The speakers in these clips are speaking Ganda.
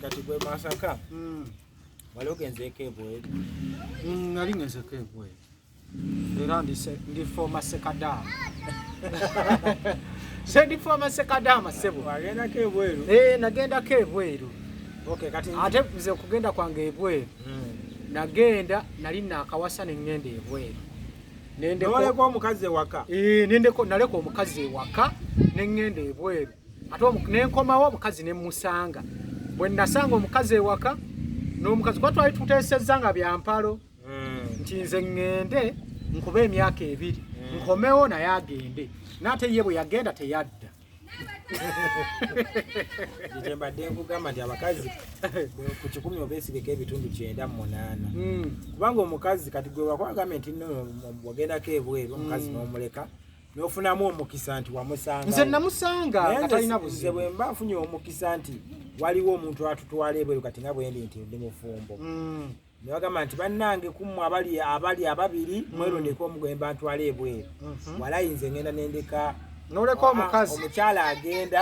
kati gwe masaka hmm. wali ogenzeeko ebweru hmm, nali ngenzeko ebweru era ndi foma sekadaama sendi foma sekadaama sebo agendako ebweru eh, nagendako ebweru ate nze okugenda kwange ebweru hmm. nagenda nali nakawasa nengenda ebweru nendeko omukazi ewaka eh, nendeko naleka omukazi ewaka nengenda ebweru ate nenkomawo omukazi nemusanga bwe nasanga omukazi ewaka n'omukazi kuba twali tuteesezza nga byampalo hmm. nti nze ŋŋende nkuba emyaka ebiri hmm. nkomewo naye agende naate ye bwe yagenda teyadda nze mbadde nkugamba nti abakazi ku kikumi obesigeko ebitundu kyenda mu munaana hmm. kubanga omukazi kati gwe wakwagambye nti no wagendako ebweru omukazi n'omuleka nofunamu omukisa nti wamusanga nze namusanga nga talina buzibu bwe mba nfunye omukisa nti waliwo omuntu atutwala ebweru kati nga bwendi nti ndi mufumbo mm. nebagamba nti bannange kumu abali abali ababiri mm. mwerondeko omu gwemba ntwala ebweru mm-hmm. walayi nze ngenda nendeka noleka omukazi omukyala agenda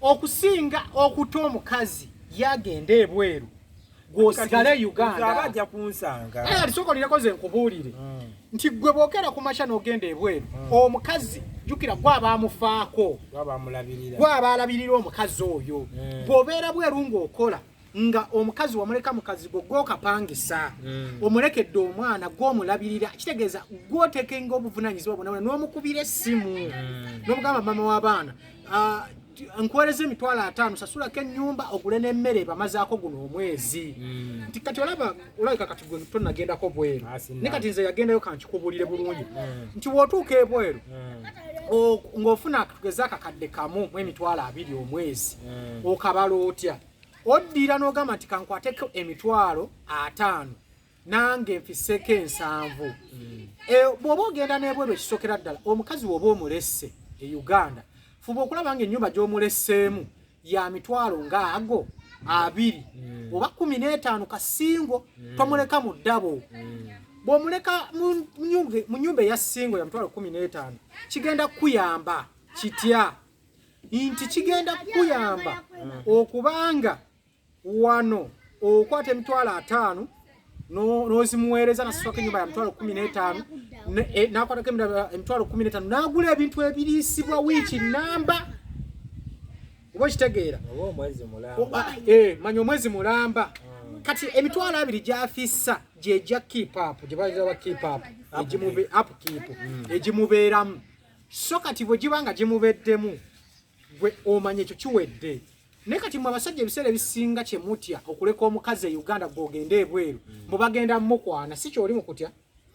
okusinga okuta omukazi yagenda ebweru gwosigale e ugandabajja kunsanga eh, lisokolireko ze nkubuulire hmm. nti gwe bwogera ku makya n'ogenda ebweru hmm. omukazi jukira gwaba amufaako gwaba alabirira omukazi oyo hmm. bw'obeera bweru ng'okola mm. nga omukazi wamuleka mukazigo gwokapangisa mm. omulekedde omwana gwomulabirira kitegeeza gwotekenga obuvunanyizibwa bwonabona nomukubira essimu mm. nomugamba mama w'abaana uh, nkuwereza emitwalo ataano sasulako ennyumba ogule n'emmere bamazaako guno omwezi mm. nti kati olaba olabika kati gwe tonagendako bweru ne kati nze yagendayo kankikubulire bulungi mm. nti wotuuka ebweru mm. ng'ofuna tugeze akakadde kamu mu emitwalo abiri omwezi mm. okabala otya oddira n'ogamba nti kankwateko emitwalo ataano nange mfiseko ensanvu e, bw'oba ogenda n'ebweru ekisokera ddala omukazi w'oba omulesse e uganda fuba okulaba nga ennyumba gy'omuleseemu ya mitwalo nga ago abiri mm. oba kumi n'etaano kasingo mm. tomuleka mu ddabo mm. bw'omuleka mu nyumba eya singo ya mitwalo kumi n'etaano kigenda kukuyamba kitya nti kigenda kukuyamba okubanga wano okwata emitwalo ataano nozimuweereza nasaswako enyumba ya mitwalo kumi n'etaano e, nakwatako emitwalo kumi n'etaano nagula ebintu ebiriisibwa wiiki namba oba okitegeera eh, manya omwezi mulamba hmm. kati emitwalo abiri gyafissa gyegya kipapu gyebaaba kipapu egimubeeramu hmm. so kati bwe giba nga gimubeddemu gwe omanya ekyo kiwedde naye kati mwe abasajja ebiseera ebisinga kye mutya okuleka omukazi e uganda gwogende ebweru mm. mbu bagenda mukwana si kyoli mu kutya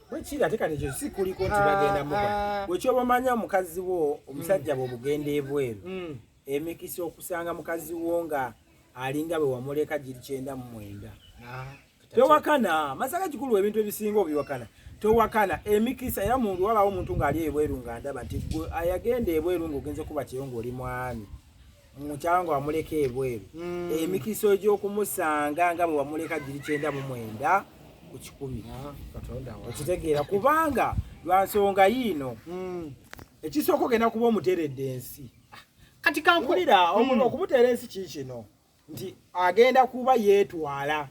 bwekiri ate kati ekyo si kuliko nti ah, bagenda mukwana ah. bwekyoba omanya omukazi wo omusajja mm. bwobugenda ebweru mm. emikisa okusanga mukazi wo nga alinga bwe wamuleka giri kyenda mu mwenda ah. tewakana masaka kikulu ebintu ebisinga obiwakana tewakana emikisa era mundu wabawo omuntu ngaali ebweru nga ndaba nti gwe ayagenda ebweru nga ogenze kuba kyeyo ngaoli mwami mukyalo nga wamuleka ebweru hmm. emikisa egyokumusanga nga bwe wamuleka giri kyenda mu mwenda ku kikumi ah, okitegeera kubanga lwansonga yiino hmm. ekisooka ogenda kuba omuteredde ensi ah, kati kankulira hmm. okumuteera ensi kiikino nti agenda kuba yeetwala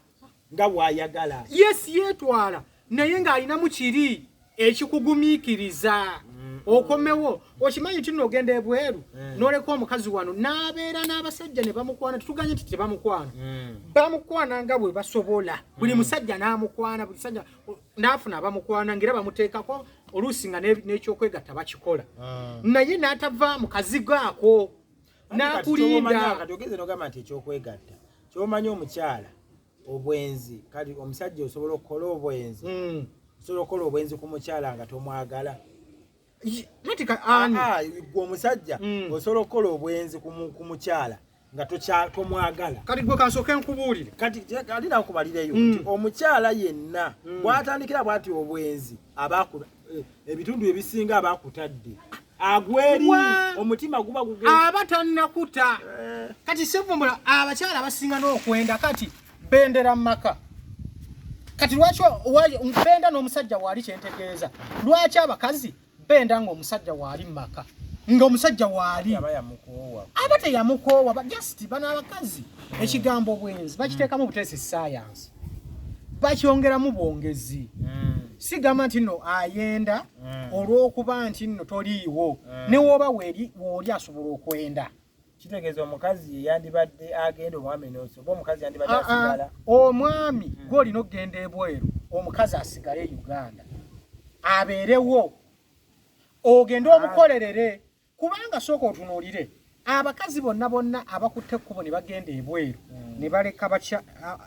nga bw'ayagala yes yeetwala naye ng'alinamu kiri ekikugumiikiriza mm. okomewo okimanyi nti no ogenda ebweru mm. n'oleka omukazi wano n'abeera n'abasajja ne bamukwana tetuganye nti tebamukwana mm. bamukwana nga bwe basobola buli musajja n'amukwana buli sajja n'afuna abamukwana ngaera bamuteekako oluusi nga n'ekyokwegatta bakikola ah. naye n'atava mu kazigo ako nakulinda kati ogeze nogamba nti ekyokwegatta kyomanyi omukyala obwenzi kati omusajja osobola okukola obwenzi hmm. osobola okukola obwenzi ku mukyala nga tomwagala gwe ah, ah, omusajja hmm. osobola okukola obwenzi ku mukyala nga tomwagala kati gwe kasooka enkubuulire kati ali nakubalireyo hmm. nti omukyala yenna bwatandikira bwati obwenzi aba eh, ebitundu ebisinga aba akutadde agweri omutima guba gugenda aba tannakuta eh. kati sevumbula abakyala abasinga n'okwenda kati bendera mu maka kati lwaki benda n'omusajja waali kyentegeeza lwaki abakazi benda ng'omusajja waali mu maka nga omusajja waali aba teyamukoowa just bano abakazi ekigambo bwenzi bakiteekamu butesi saayanga bakyongeramu bwongezi mm. sigamba nti no ayenda mm. olwokuba nti no toliiwo mm. newooba weri wooli asobola okwenda kitegeeza omukazi yandibadde agenda omwami noso oba omukazi yandibadde ah, ah. asigala omwami mm. gwe olina okugenda ebweru omukazi asigale e uganda abeerewo ogende ah. omukolerere kubanga sooka otunuulire abakazi bonna bonna abakutte ekkubo ne bagenda ebweru hmm.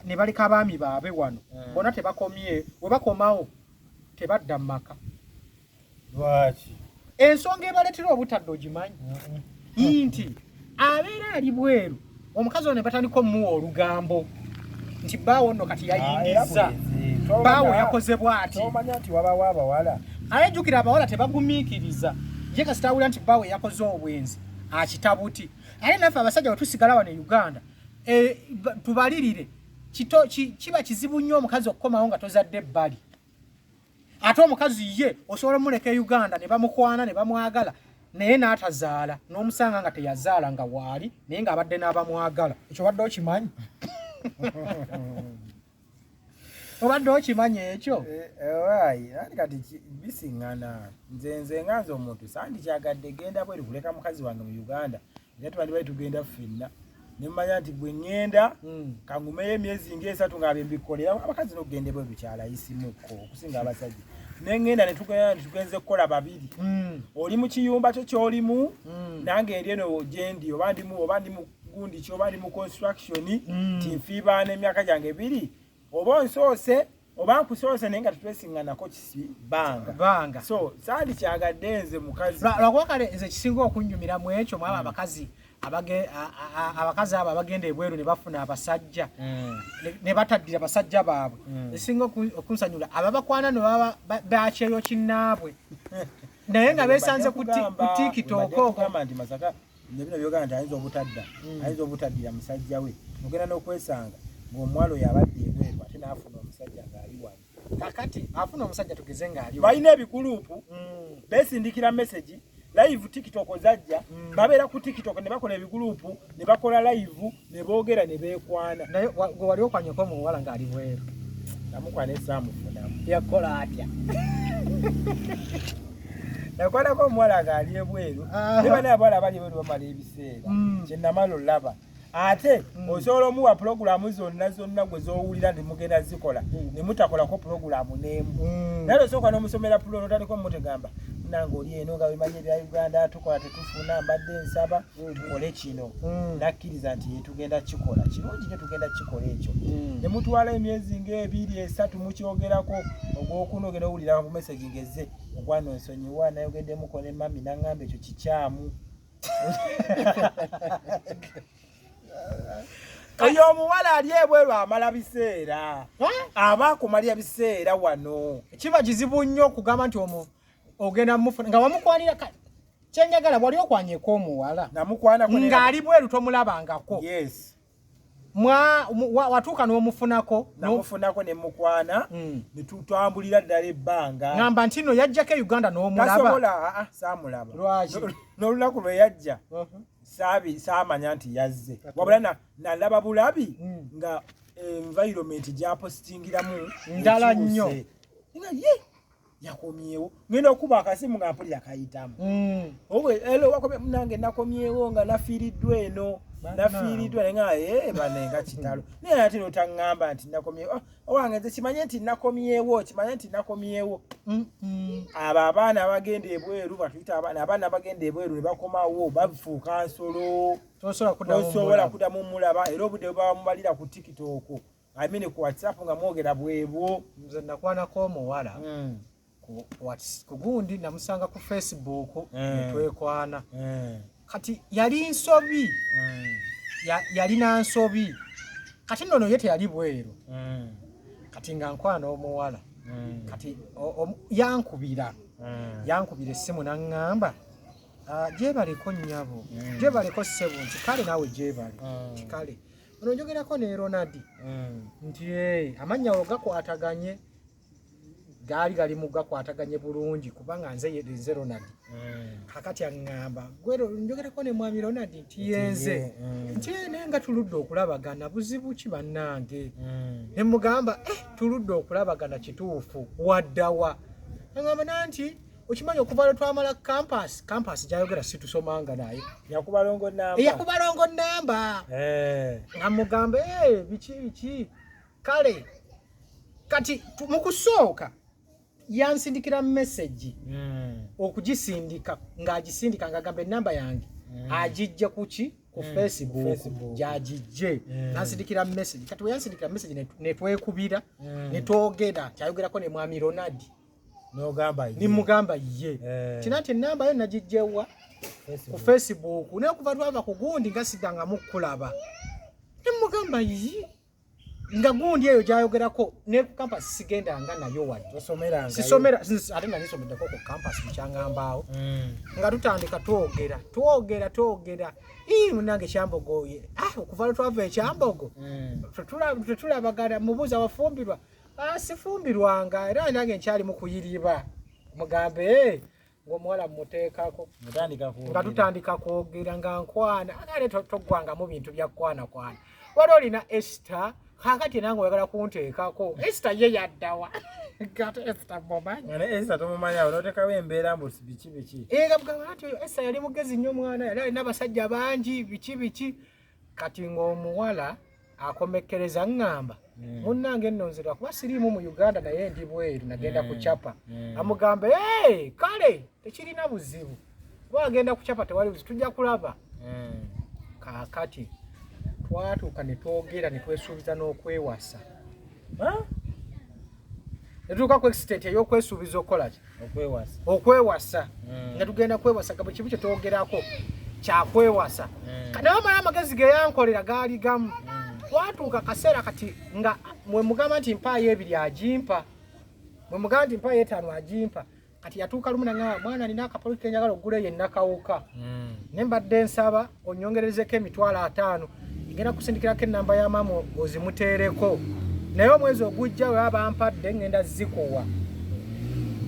ne baleka abaami baabe wano hmm. bona tebakomye we bakomawo tebadda mu maka lwaki ensonga ebaleetera obutadde ogimanyi hmm. nti abeera ali bweru omukazi ono ne batandika omuwa olugambo nti baawo nno kati yayingizza ah, eh, baawo yakoze bwati ayejjukira abawala tebagumiikiriza ye kasitawulira nti baawo yakoze obwenzi akitabuti ate naffe abasajja wetusigala wano e uganda eh, tubalirire kiba kizibu nnyo omukazi okukomawo nga tozadde ebbali ate omukazi ye osobola omuleka e uganda ne bamukwana ne bamwagala naye n'atazaala n'omusanga nga teyazaala nga waali naye ng'abadde n'abamwagala ekyo badde okimanyi obadde okimanyi ekyo eh, eh, ani kati bisiŋŋana nze nze nga nze omuntu sandikyagadde genda bweru kuleka mukazi wange mu uganda naye tubandibali tugenda ffenna nemanya nti gwe ŋŋenda hmm. kangumeyo emyezi ngaesatu ngaabe mbikolera abakazi nokugenda bwe bukyala isimuko okusinga abasajja neŋŋenda netugenda netugenze kukola babiri hmm. oli mu kiyumba kyo kyolimu hmm. nange eri eno gyendi oba ndimu oba ndi mugundi ki oba ndi mu construction tinfiibaana emyaka gyange biri oba onsoose oba nkusoose naye nga tetwesinganako kisibanga so sandi kyagadde nze mukazi lwakuba kale nze kisinga okunnyumira mu ekyo mwaba hmm. abakazi abakazi abo abagenda ebweru ne bafuna abasajja hmm. ne bataddira basajja baabwe hmm. esinga okunsanyula ababakwana ne baba bakyeyo kinnaabwe naye nga besanze ku tikitokoko nebino byogana nti ayinza obutadda hmm. ayinza obutaddira musajja we ogenda n'okwesanga ng'omuwala oyo abadde ebweru ate n'afuna omusajja ng'ali wano kakati afuna omusajja tugeze ng'ali balina ebikuluupu hmm. besindikira mesegi live tiktok zajja hmm. babeera ku tiktok ne bakola ebiguluupu ne bakola live ne boogera ne beekwana. Naye gwe wali okwanyeko omuwala ng'ali bweru? Namukwana esaamufunamu. Yakukola atya? Nakwanako omuwala ng'ali ebweru. Ne bana abawala abali ebweru bamala ebiseera. Mm. Kye namala olaba. Ate mm. osobola omuwa pulogulaamu zonna zonna gwe z'owulira ne mugenda zikola mm. ne mutakolako pulogulaamu n'emu. Naye osooka n'omusomera pulo n'otandika omutegamba nange oli eno nga wemanyi ebya Uganda tukola tetufuna mbadde nsaba. tukole kino mm. nakkiriza nti yetugenda kikola kirungi nyo tugenda kikola ekyo mm. ne mutwala emyezi ng'ebiri esatu mukyogerako ogwokuna ogenda owulira ku meseji ngeze okwano nsonyiwa nayogedemuko ne mami nangamba ekyo kikyamu oyo omuwala ali ebweru amala biseera aba akumalya biseera wano kiba kizibu nnyo okugamba nti omu ogenda mufuna nga wamukwanira kale kyenjagala wali okwanyeko omuwala ng'ali bweru tomulabangako yes. mwa watuuka n'omufunako namufunako ne mukwana mm. netutambulira ddala ebbanga ngamba nti no yajjako e uganda n'omulabasobola ah, ah, saamulaba lwaki n'olunaku lwe yajja uh-huh. saabi saamanya nti yazze wabula nalaba bulabi mm. nga environment gyapositingiramu ndala nnyo yakomyewo ngenda okuba akasimu nga mpulira kayitamu mm. owe elo wakomye munange nakomyewo nga nafiiriddwa eno nafiiriddwa naye nga ee eh, bane nga kitalo naye ate notaŋŋamba nti nakomyewo ah, owange nze kimanye nti nakomyewo kimanye nti nakomyewo abo abaana abagenda ebweru batuyita abaana abaana abagenda ebweru ne bakomawo bafuuka nsolo tosobola kudamu mulaba era obudde bwebabamubalira ku tikitooko I mean ku WhatsApp nga mwogera bwebwo. Nze nakwanako omuwala mm. ku WhatsApp kugundi namusanga ku Facebook mm. twekwana mm. kati yali nsobi mm. ya, yali na nsobi kati nono yete yali bwero mm. kati nga nkwana omuwala mm. kati o, o, yankubira mm. yankubira essimu nangamba uh, ah, jebaleko nyabo mm. jebaleko sebunti kale nawe jebali mm. kale Ono njogerako ne Ronald mm. nti ee amannya awo gakwataganye gaali gali mu gakwataganye bulungi kubanga nze nze Ronald mm. kakati aŋŋamba gwe njogerako ne mwami Ronald nti yenze mm. nti naye nga tuludde okulabagana buzibu ki bannange mm. ne mugamba eh tuludde okulabagana kituufu waddawa aŋŋamba nanti okimanyi okuva lwe twamala kampasi kampasi gyayogera situsomanga naye yakubalongo namba yakubalongo namba eh. nga mugamba eh, biki biki kale kati mu kusooka yansindikira mesegi hmm. okugisindika ng'agisindika ng'agamba enamba yange hmm. agijja kuki ku hmm. facebook gyagijje nansindikira mesegi kati weyansindikira mesegi netwekubira netwogera kyayogerako ne mwami ronaldi nimugamba ye eh. kina nti enamba yo nagijjewa ku facebook naye kuva twava ku gundi nga sidangamu kukulaba nimugamba yi nga gundi eyo gyayogerako ne ku campas sigendanga nayo wadisisomera ate nali someddeko ku campas mukyangambaawo mm. nga tutandika twogera twogera twogera ii munange kyambogoye ah, okuva lwetwava ekyambogo mm. tetulabagana mubuuza wafumbirwa Ah, sifumbirwanga era nange nkyali mu kuyiriba mugambe eh, ngaomuwala mumuteekako nga tutandika kwogera nga nkwana agale toggwangamu bintu bya kwanakwana wali olina esta kakati nange oyagala kunteekako esta ye yaddawa esta yali mugezi nnyo omwana yali alina abasajja bangi biki biki kati ng'omuwala akomekkereza ŋŋamba hmm. munnange nno nzira kuba siriimu mu uganda naye ndi bweru nagenda hmm. kucapa hmm. amugamba e kale tekirina buzibu kuba agenda kucapa tewali buzibu tujja kulaba kaakati twatuuka ne twogera ne twesuubiza n'okwewasa netuuka ku extent eyokwesuubiza okukolaki okwewasa mm. nga tugenda kwewasa gabo kibu kyetwogerako kyakwewasa mm. naye omala amagezi geyankolera gaali gamu mm. twatuuka akaseera kati nga mwemugamba nti mpaayo ebiri agimpa mwemugamba nti mpaayo etaano agimpa kati yatuuka lumu nangamba mwana nina akapolo kenjagala okugula eyo enakawuka hmm. ne mbadde nsaba onyongerezeko emitwalo ataano ngenda kusindikirako enamba ya maama ozimuteereko naye omwezi ogujja we abampadde ngenda zikuwa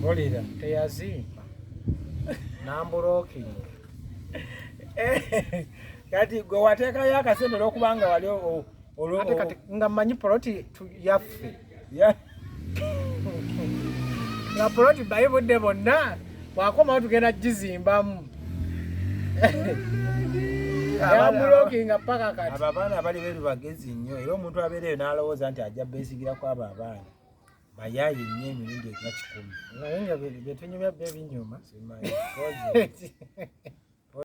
olira teyazimba namburokinga eh, kati gwe wateekayo akasente olwokubanga wali ate kati nga manyi poloti yaffe nga poloti bayi budde bonna wakomawo tugenda gizimbamu abamulokinga paka kati abo abaana abali beru bagezi nnyo era omuntu abeereyo n'alowooza nti ajja beesigira ku abo abaana bayaye nnyo emirundi egya kikumi naye nga betunyumya byo ebinyuma